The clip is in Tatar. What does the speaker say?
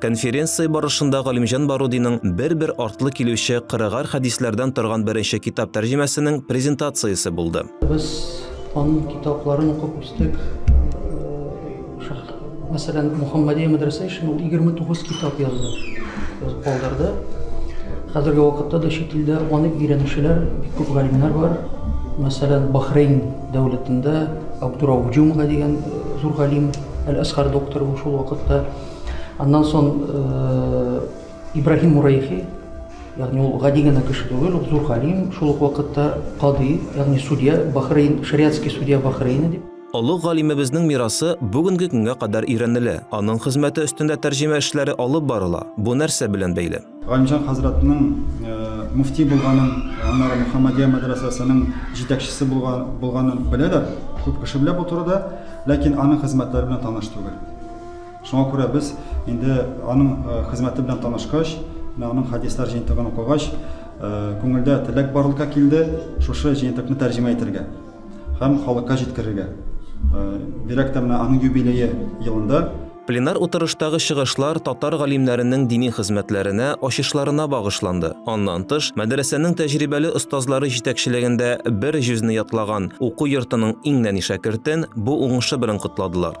Конференция барышында Галимҗан Барудиның бер-бер артлы килүче кырыгар хәдисләрдән торган беренче китап тәрҗемәсенең презентациясе булды. Без аның китапларын укып үстек. Мәсәлән, Мухаммадия мәдрәсә өчен ул 29 китап язды, калдырды. Хәзерге вакытта да чит илдә аны өйрәнүчеләр бик күп галимнәр бар. Мәсәлән, Бахрейн дәүләтендә Абдурауф Джумга дигән зур галим, Әл-Асхар докторы ул шул вакытта Аннан сон Ибраһим Мурайхи, ягъни ул гади генә кеше түгел, ул зур галим, шул ук вакытта кади, ягъни судья, Бахрейн, шариатский судья Бахрейна дип. Олы галимебезнең мирасы бүгенге көнгә кадәр өйрәнелә, аның хезмәте өстендә тәрҗемә эшләре алып барыла, бу нәрсә белән бәйле? Галимҗан хәзрәтнең мөфти булганын, аннары Мөхәммәдия мәдрәсәсенең җитәкчесе булганын беләләр, күп кеше белә бу турыда, ләкин аның хезмәтләре белән таныш түгел. Шуңа күрә без инде аның хезмәте белән танышкач, аның хәдисләр җыентыгын укыгач, күңелдә теләк барлыкка килде, шушы җыентыкны тәрҗемә итәргә һәм халыкка җиткерергә. Бигрәк тә менә аның юбилее елында. Пленар утырыштагы чыгышлар татар галимнәренең дини хезмәтләренә, ачышларына багышланды. Аннан тыш, мәдрәсәнең тәҗрибәле остазлары җитәкчелегендә бер җөзне ятлаган уку йортының иң нәни шәкертен бу уңышы белән котладылар.